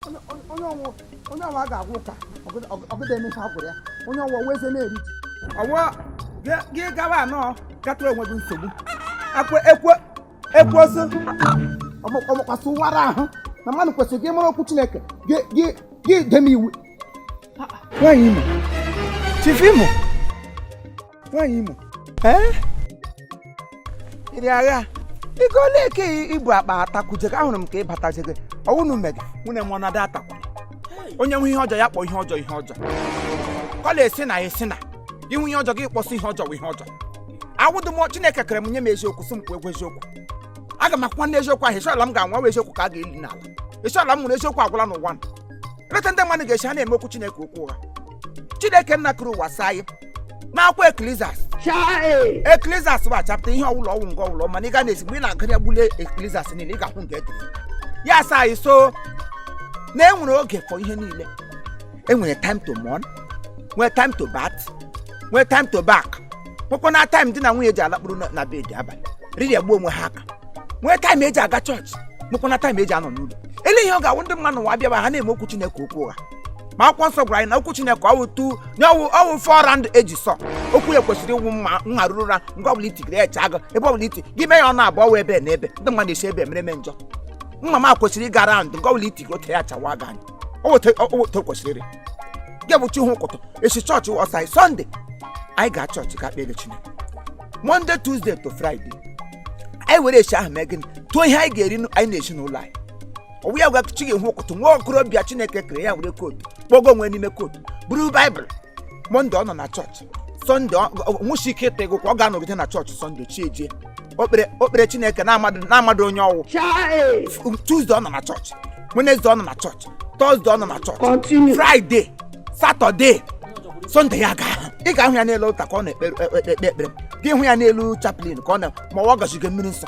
onye ọwụ onye ọwụ a ga-agwụ ụka ọgụda emecha agwụrụ ya onye ọwụ wee ze na-eri ji ọwụ gị gawa anọ kpatara onwe gị nsogbu akwa ekwe ekwe oso ọmụkwasị ụwara ahụ na mmadụ kwesịrị gị mara okwu chineke gị dem iwu nwaanyị imo chifu imo nwaanyị imo ịrị agha ị ga ole eke ibu akpa atakwujego ahụrụ m ka ịbatajego ọwụnụ mega nwunye m ọnọdụ atakwa onye nwe ihe ọjọọ ya kpọ ihe ọjọọ ihe ọjọọ kọla esi na esi na inwe ihe ọjọọ gị kpọsị ihe ọjọọ ihe ọjọọ awụdụ m chineke kere m nye m eziokwu sị m kwuo egwu eziokwu aga m akwụkwa n'eziokwu ahụ esi ole m ga-anwụ ọwụ eziokwu ka a ga-eli n'ala esi ole m nwụrụ eziokwu agwụla n'ụwa eleta ndị mmadụ ga-esi ha na-eme okwu chineke okwu ụgha chineke nna kere ụwa saa anyị n'akwụkwọ eklizas Chai! eklizas wụ chapta ihe ọwụlọ ọwụ nke ọwụlọ mana ị ga na-esi mgbe ị na-agụ ya gbule eklizas niile ị ga-ahụ nke edere ya sa anyị so na enwere oge for ihe niile enwere time to mourn nwee time to bath nwee time to back nwekwa na time di na nwunye ji alakpụrụ na- na bed abalị riri egbu onwe ha aka nwee time eji aga chọọchị nwekwa na time eji anọ n'ụlọ ele ihe ọ ga-awụ ndị mmadụ nwa abịaba ha na-eme okwu chineke okwu ụgha ma akwụkwọ nsọ gwara anyị na okwu chineke ọwụ two na ọwụ ọwụ four round edge sword okwu ya kwesịrị ịwụ mma nha ruru ụra nga ọbụla itigere ya chaa gị ebe ọbụla iti gị mee ya ọnụ abụọ wee ebe na ebe ndị mmadụ esi ebe mere eme njọ mma ma kwesịrị ịga raụndụ nga ọbụla itigere ote ya chawa gị anyị owote kwesịrị ịrị gị bụ chi hu ụkụtụ esi chọọchị ọsaị sọnde anyị ga chọọchị ga kpere chineke monde tuzdee to fraịde anyị were esi ahụ mee gịnị tụọ ihe anyị ga-eri anyị na ezinụlọ anyị ọwụ ya wụ chi ga-ehu ụkụtụ nwa okorobịa chineke kere ya were kootu kpọgo onwe n'ime kootu buru baịbụl mọnde ọ nọ na chọọchị sọnde ọ- ọ- nwụchi ike ịta ego ka ọ ga-anọgide na chọọchị sọnde chi ejie o kpere o kpere chineke na-amadụ na-amadụ onye ọwụ tuzde ọ nọ na chọọchị wenezde ọ nọ na chọọchị tọzde ọ nọ na chọọchị fraịde satọde sọnde ya ga ị ga-ahụ ya n'elu ọlta ka ọ na-ekpe ekpe ekpe ekpere gị hụ ya n'elu chaplin ka ọ na ma ọ gazigo mmiri nsọ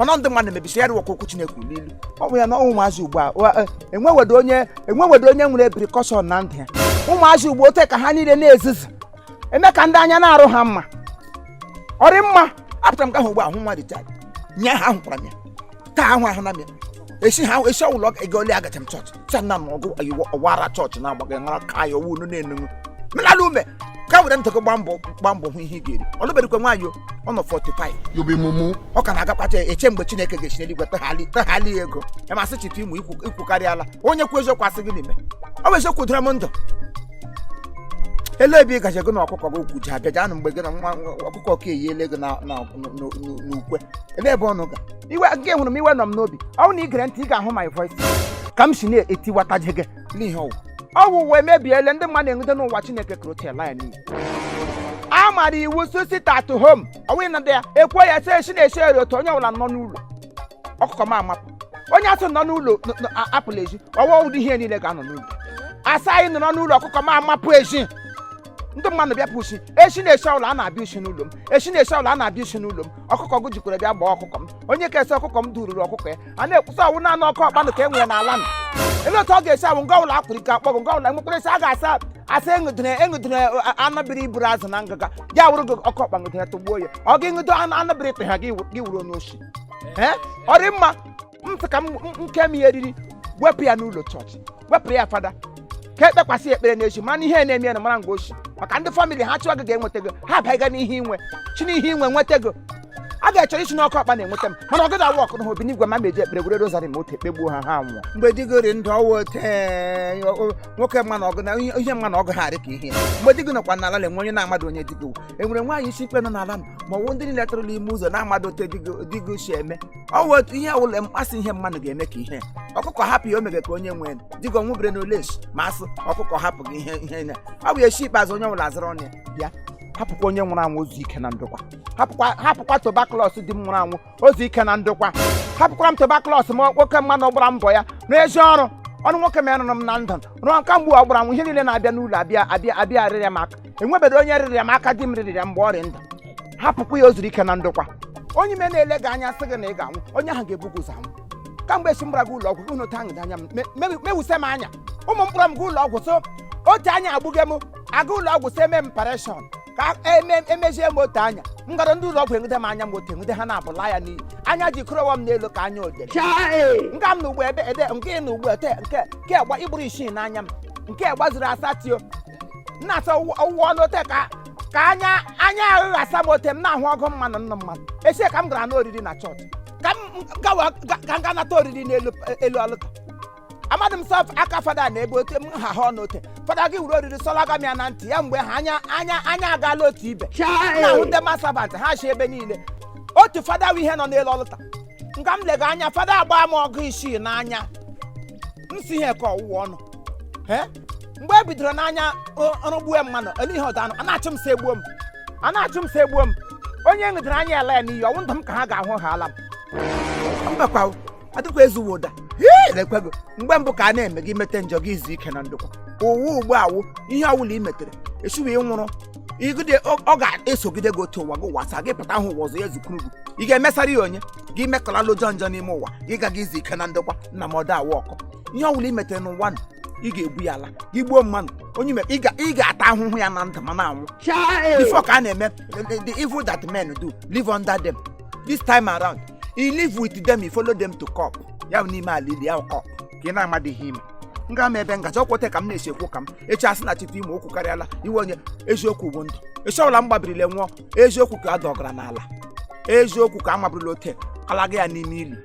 ọnọ ndị mmadụ mebisi ya rụwakwa okwu Chineke n'ilu ọ bụ ya na ụmụazị ugbu a e, enwewedo onye enwewedo onye nwere precaution na ndụ ya ụmụazị ugbu ote ka ha niile na-ezizi eme ka ndị anya na-arụ ha mma ọ rị mma apụtara m ka ahụ ugbu ahụ nwa dị taa nye ha ahụkwara m ya taa ahụ ahụ na m ya esi ha esi ọwụlọ ego ole agacha m chọọchị chana m ọgụ ayiwo ọwara chọọchị na-agbaghị mara ka ya ọwụ unu na-enugwu menala ume ka were ntị gị gbaa mbọ gbaa mbọ hụ ihe ị ga-eri ọlụberikwe nwaanyị o, ọ nọ 45 you be mumu ọ ka na-agakpacha eche mgbe chineke ga-esi n'eluigwe taghali taghali ya ego ya ma sị chifu imo ikwu ikwukarịala onye kwu eziokwu asị gị n'ime ọ bụ eziokwu dịra m ndụ ele ebe ị gaje gị na ọkụkọ gị ukwu ji abịa janụ mgbe gị na nwa ọkụkọ ka eyiele gị na- na- n'ukwe ele ebe ọnụ ga iwe gị hụrụ m iwe nọ m n'obi ọ bụrụ na ị gere ntị ị ga-ahụ my voice ka m si na-etiwataje gị n'ihe ọwụ ọwụ ụwa emebiele ndị mmadụ na-enweta n'ụwa chineke kere otu ala ya niile a mara iwu sị sit at home ọwụghị na ndị ya ekwe ya sị si na-esi eri otu onye ọbụla nọ n'ụlọ ọkụkọ m amapụ onye asị nọ n'ụlọ n- n- a- apụla ezi ọ wụ ụdị ihe niile ga-anọ n'ụlọ a sị anyị nọrọ n'ụlọ ọkụkọ m amapụ ezi ndị mmadụ bịapụ oshi echi na echi ọbụla a na-abịa oshi n'ụlọ m echi na echi ọbụla a na-abịa oshi n'ụlọ m ọkụkọ gị jikwara bịa gbaa ọkụkọ m onye kesị ọkụkọ m dururu ọkụkọ ya a na-ekwusa ọwụ naanị oke ọkpa nụ ka e nwere n'ala nụ ele otu ọ ga-esi awụ nga ọbụla akwụrụ ike akpọgụ nga ọbụla nwekwara esi a ga-asa asa eṅụdịna eṅụdịna anụ biri iburu azụ na ngịga ya wụrụ gị oke ọkpa ṅụdịna tụgbuo ya ọ ga-eṅụdo anụ anụ biri tụha gị wuru onye oshi ọ rị mma m sị ka m m- nke m ya eriri wepụ ya n'ụlọ chọọchị wepụ ya fada ka ekpekwasị ya ekpere n'echi mana ihe na-eme ya na mara nga oshi maka ndị famịlị ha chụọ gị ga-enweta gị ha abịaghị n'ihe inwe chi n'ihe inwe nweta gị a ga-achọrọ isi n'oke ọkpa na-enweta m mana ọ gaghị awa ọkụ na obi n'igwe ma meji ekpere gwere rozari ma otu ekpegbuo ha ha nwụọ mgbe di gị rị ndụ ọwụ ote nwoke mma na ọgụ na ihe ihe mma na ọgụ ha dị ka ihe mgbe di gị nọkwa n'ala na-enwe onye na-amadụ onye di gị wụ. enwere nwaanyị isi ikpe nọ n'ala m ma ọ wụ ndị niile tụrụla ime ụzọ na-amadụ ote di gị- di gị si eme ọ wụ otu ihe ọwụla mkpasị ihe mmadụ ga-eme ka ihe ọkụkọ hapụ ya o mege ka onye nwee di gị nwụbere na oleshi ma asụ ọkụkọ hapụ gị ihe ihe na ọ bụ echi ikpeazụ onye ọwụla azụrụ ọnụ ya bịa hapụkwa onye nwụrụ anwụ o zuo ike na ndokwa hapụkwa hapụkwa tobaklọs di m nwụrụ anwụ o zuo ike na ndokwa hapụkwara m tobaklọs ma nwoke mmanụ ọ gbara mbọ ya n'ezi ọrụ ọnụ nwoke m ya nụrụ m na ndụ ruo kamgbe ọ gbara anwụ ihe niile na-abịa n'ụlọ abịa abịa abịa arịrịa m aka enwebedị onye rịrịa m aka di m rịrịa mgbe ọ rị ndụ hapụkwa ya o zuru ike na ndokwa onye ime na-ele gị anya sị gị na ị ga-anwụ onye ahụ ga-ebu gị ụzọ anwụ kamgbe echi m gbara ga ụlọ ọgwụ unu taa anya m me- me- mewuse m anya ụmụ m kpọrọ m ga ụlọ ọgwụ sị otu anya agbụghị m aga ụlọ ọgwụ sị e mee m operation ka eme- emezie m otu anya m gara ndị ụlọ ọgwụ enwede m anya m otu enwede ha na-abụla ya n'iyi anya ji kụrọwa m n'elu ka anya odere nga m na ugbo ebe ede nke ị na ugbo ete nke nke gba ịgbụrụ isii n'anya m nke gbazuru asatọ nna asọ ụwa ọnụ ote ka ka anya anya ahụ ghasa m ote m na-ahụ ọgụ mmanụ nna mmadụ esi ka m gara n'oriri na chọọchị ka m gawa ga- ka m ga nata oriri n'elu elu altar amadị m sọ aka fada na ebe ote m ha ha ọnụ ote fada gị wuru oriri sọlaga m ya na ntị ya mgbe ha anya anya anya agaala otu ibe na-ahụ ndị mass servant ha chi ebe niile otu fada wụ ihe nọ n'elu altar nga m lega anya fada agbaa m ọgụ isii n'anya m sị ihe ka ọwụwa ọnụ Eh? mgbe e bidoro n'anya ọrụ gbuo mmanụ ele ihe ọzọ anụ a na-achụ m sị egbuo m a na-achụ m sị egbuo m onye ṅụdịrị anya ala ya n'iyi ọ wụ ndụ m ka ha ga-ahụ ha ala m mbakwa adịkwa ezuwo ụda ekwego mgbe mbụ ka a na-eme gị mete njọ gị izu ike na ndokwa ụwa ugbu a wụ ihe ọwụla i metere echiwe ị nwụrụ igide ọ ga-esogide gị otu ụwa gị ụwa asaa gị pụta ahụ ụwa ọzọ ya zukuru gị ị ga-emesara ya onye gị mekọlala njọ n'ime ụwa gị gaga izu ike na ndokwa nna m ọda awụ ọkụ ihe ọwụla i metere n'ụwa nụ, ị ga-ebu ya ala gị gbuo mmanụ onye mere ị ga- ị ga-ata ahụhụ ya na ndụ ma na-anwụ before ka a na-eme the- the evil that men do live under them this time around you live with them you follow them to cup ya bụ n'ime ala ili ya cup ka ị na-amadị ihe ime m ga ama ebe m gaji ọkwa ote ka m na-esi ekwu ka m echi asị na chite ime okwu karịala iwe onye eziokwu bụ ndụ echi ọbụla m gbabirila nwụọ eziokwu ka a dọgara n'ala eziokwu ka a maburula ote alaga ya n'ime ili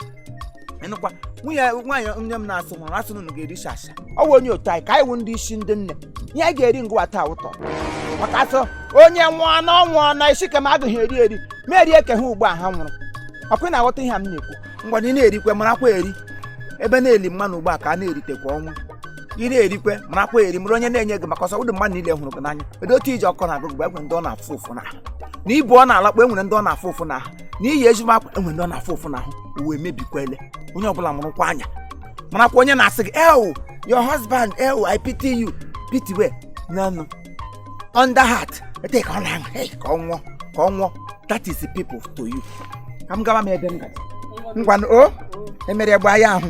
ịnụkwa nwunye nwaanyị nne m na-asị nwụrụ asị na unu ga-eri shasha ọ wụ onye otu anyị ka anyị wụ ndị isi ndị nne ihe anyị ga-eri ngwa taa wụ taa maka a sị onye nwụọ na ọ nwụọ na isi ka m agaghị eri eri ma erie ka ha ugbu a ha nwụrụ ọkwa ị na-aghọta ihe a m na-ekwu mgbe ị na-erikwe marakwa eri ebe a na-eli mmanụ ugbu a ka a na-eritekwa ọnwụ ị na-erikwe marakwa eri mara onye na-enye gị maka ọsọ ụdị mmadụ niile hụrụ gị n'anya edo otu iji ọkọ na-agụ gị enwere ndị ọ na-afụ ụfụ n'ahụ na i bu ọ na-alakpọ enwere ndị ọ na-afụ ụfụ n'ahụ na i yi ezigbo akwa enwere ndị ọ na-afụ ụfụ n'ahụ ụwa mebikwele onye ọbụla mụrụkwa anya marakwa onye na-asị gị ewu your husband ewu i pity you pity we nanụ under heart ete ka ọ na-aṅụ hey, ka ọ nwụọ ka ọ nwụọ that is the people to you ka m gaba m ebe m gaji ngwanụ o emere gba ya ahụ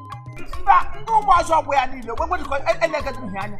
mba ndị ụmụ azụ ọ bụ ya niile wee wedịkọ elegedị ihe anya